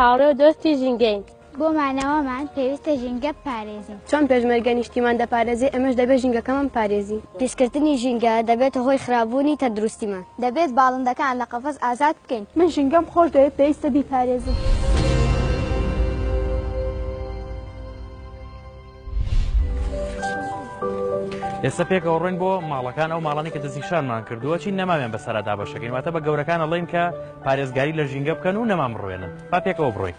هاوڕێ و دۆستی ژینگەین. بۆ مانەوەمان پێویستە ژینگە بپارێزین. چۆن پێشمەرگە نیشتیمان دەپارێزێ، ئێمەش دەبێ ژینگەکەمان بپارێزین. پیسکردنی ژینگە دەبێتە هۆی خراپبوونی تەندروستیمان. دەبێت باڵندەکان لە قەفەس ئازاد بکەین. من ژینگەم خۆش دەوێت، پێویستە بیپارێزم. ئێستا پێکەوە ڕۆین بۆ ماڵەکان ئەو ماڵانی کە دەستیشانمان کردووە چین نەماوێن بە سەردا بەشەکەین واتە بە گەورەکان ئەڵین کە پارێزگاری لە ژینگە بکەن و نەمان بڕوێنن با پێکەوە بڕۆین.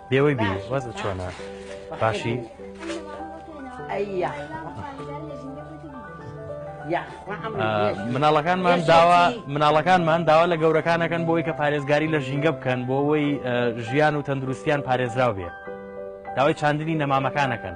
لێوەی بی وەز چۆنە باشی مناڵەکانمان داوا مناڵەکانمان داوا لە گەورەکانەکەن بۆی کە پارێزگاری لە ژینگە بکەن بۆ ئەوەی ژیان و تەندروستیان پارێزراو بێ داوای چاندنی نەمامەکانەکەن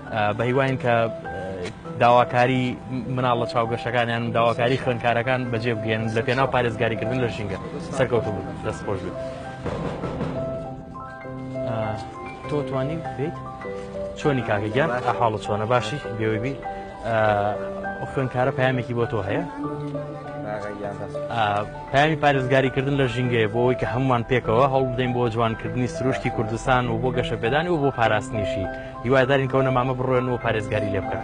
بەهیواین کە داواکاری مناڵ لە چاو گەشەکانیان و داواکاری خوێنکارەکان بەجێ بگەن لە پێناو پارێزگاریکردن لە ژینگە سەرکەوت بوو دەست خۆش بێت تۆ توانی بیت چۆنی کاکەگیان ئەحاڵە چۆنە باشی بێوەی بی خوێنکارە پامێکی بۆ تۆ هەیە پەیامی پارێزگاریکردن لە ژینگەیە بۆ ئەوەی کە هەموومان پێکەوە هەوڵبدەین بۆ جوانکردنی سروشتی کوردستان و بۆ گەشەپێدانی و بۆ پاراستنیشی، هیوادارین کەونەمامە بڕۆێن و پارێزگاری لێبکەن.